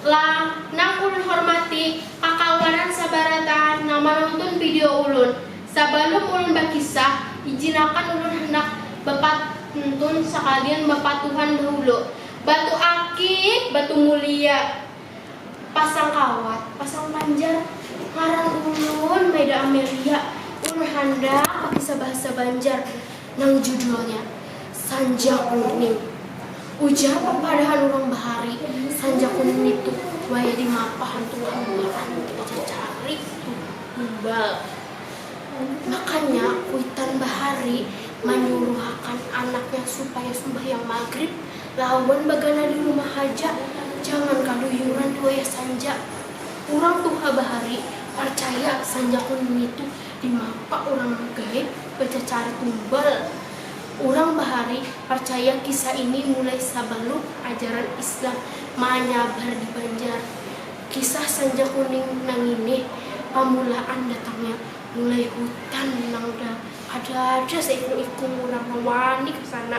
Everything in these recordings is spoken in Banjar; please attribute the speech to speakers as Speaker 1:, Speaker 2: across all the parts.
Speaker 1: Lah, nang ulun hormati, kakawanan sabarataan nang manuntun video ulun. Sabalum ulun bakisah, ijinakan ulun handak bapantun sakalian bapatuhan dahulu. Batu akik, batu mulia. Pasang kawat, pasang panjar. Ngaran ulun Maida Amelia. Ulun handak bakisah bahasa Banjar. nang judulnya Sanja Kuning. Ujar papadahan urang bahari, sanja kuning nitu wayah di mapa hantu bahamburan di pacacaran ritu Tumbal. Makanya kuitan bahari manyuruhakan anaknya supaya sumbahyang magrib lawan bagana di rumah haja, jangan kaduyuran di wayah sanja. Urang tuha bahari parcaya sanja kuning nitu Dimapa urang gaib bacacarik gumbal? Urang bahari parcaya kisah ini mulai sabalum ajaran Islam manyabar di Banjar. Kisah Sanja Kuning nangini pamulaan datangnya mulai hutan nang dah ada aja seiku-iku urang nang wani ka sana.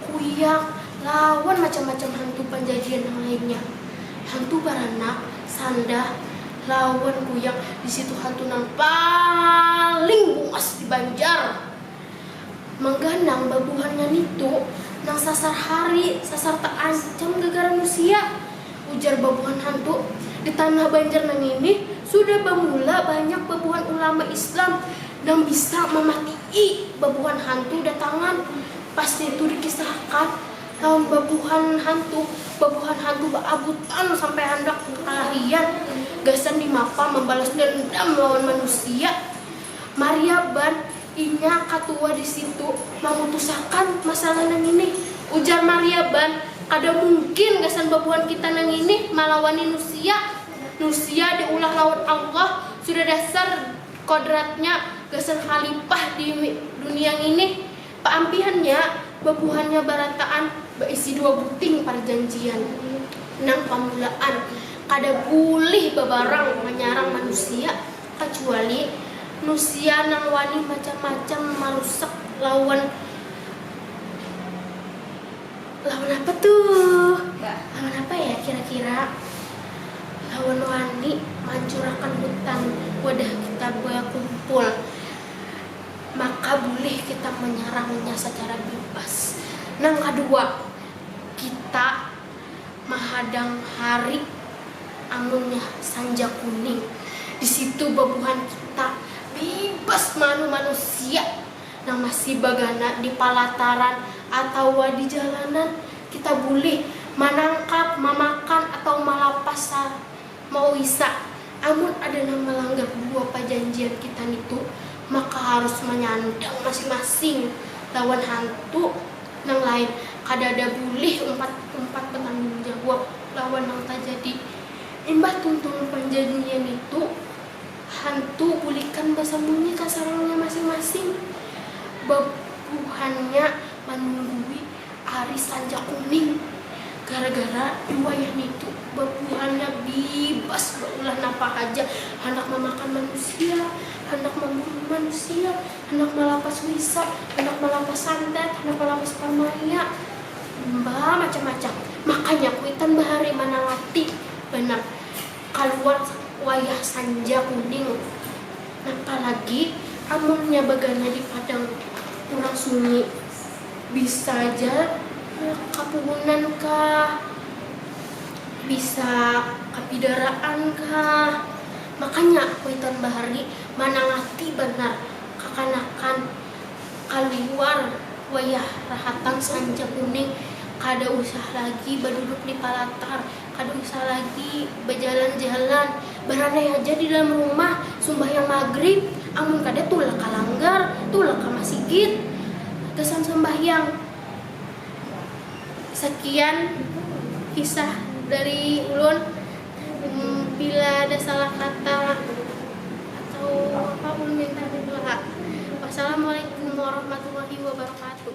Speaker 1: kuyak, lawan macam-macam hantu panjajian nang lainnya. Hantu baranak, sandah, lawan kuyak di situ hantu nang paling buas di Banjar. Mangganang babuhannya nitu nang sasar hari sasar taancam gagara musia, ujar babuhan hantu. Di tanah Banjar nangini sudah bamula banyak babuhan ulama Islam nang bisa mamatii babuhan hantu datangan. Pas nitu dikisahkan lawan babuhan hantu, babuhan hantu baabutan sampai handak kalahian gasan dimapa mambalas dendam lawan manusia. Mariaban, inya katua di situ, mamutusakan masalah nangini. Ujar Mariaban, kada mungkin gasan babuhan kita nangini malawani nusia. Nusia diulah lawan Allah, sudah dasar kodratnya gasan khalipah di dunia ngini. Paampihannya, babuhannya barataan baisi dua buting parjanjian nang pamulaan kada bulih babarang manyarang manusia kacuali nusia nang wani macam-macam marusak lawan lawan apa tuh lawan apa ya kira-kira lawan wani mancurakan hutan wadah kita bakumpul. maka bulih kita manyarangnya sacara bibas. Nang kadua, kita mahadang hari amunnya sanja kuning, di situ babuhan kita bibas maanu manusia nang masih bagana di palataran atawa di jalanan, kita bulih manangkap, mamakan atawa malapas Mauisa, amun ada nang malanggar dua pajanjian kita nitu, maka harus manyandang masing-masing lawan hantu nang lain, kadada bulih umpat-umpat batanggung jawab lawan nang tajadi. Imbah tuntung panjanjian nitu, hantu bulikan basambunyi ka sarangnya masing-masing, babuhannya manunggui. Ari sanja kuning. Gara-gara di wayah nitu babuhannya bibas baulah napa haja, handak mamakan manusia, handak mamburu manusia, handak malapas wisa, handak malapas santet, handak malapas parmaya, bamacam-macam. Makanya kuitan bahari manalati banar kaluar wayah sanja kuning. Napa lagi amunnya bagana di padang urang sunyi. Bisa ja handak kapuhunan kah, bisa kapidaraan kah. Makanya kuitan bahar ni manangati banar kakanakan kaluar wayah rahatan sanca kuning kada usah lagi baduduk di palatar. Kada usah lagi bajalan-jalan, baranai haja di dalam rumah, sumbahyang magrib, amun kada tulak ka langgar, tulak ka masigit, gasan sambahyang. Sakian kisah dari ulun, bila ada salah kata atau apa ulun minta maaf ha. Wassalamualaikum warahmatullahi wabarakatuh.